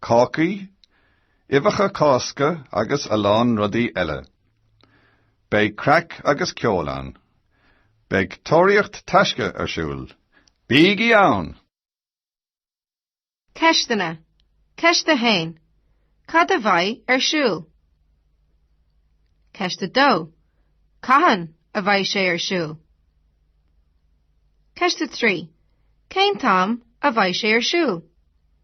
cácaí, uibheacha Cásca agus a lán rudaí eile. Beidh craic agus ceol ann. Beidh Tóraíocht Taisce ar siúl. Bígí ann! Ceisteanna, Ceist 1. Cad a bheidh ar siúl? Ceist 2. Cathain a bheidh sé ar siúl? Ceist 3. Cén t-am a bheidh sé ar siúl?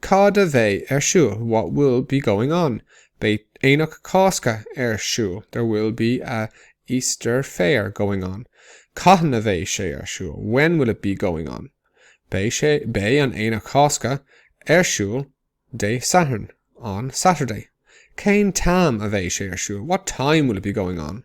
Cad a bheidh ar siúl, what will be going on? Beidh Aonach Cásca ar siúl, there will be a Easter Fair going on. Cathain a bheidh sé ar siúl, when will it be going on? Beidh sé, beidh an Aonach Cásca ar siúl Dé Sathairn, on Saturday. Cén t-am a bheidh sé ar siúl, what time will it be going on?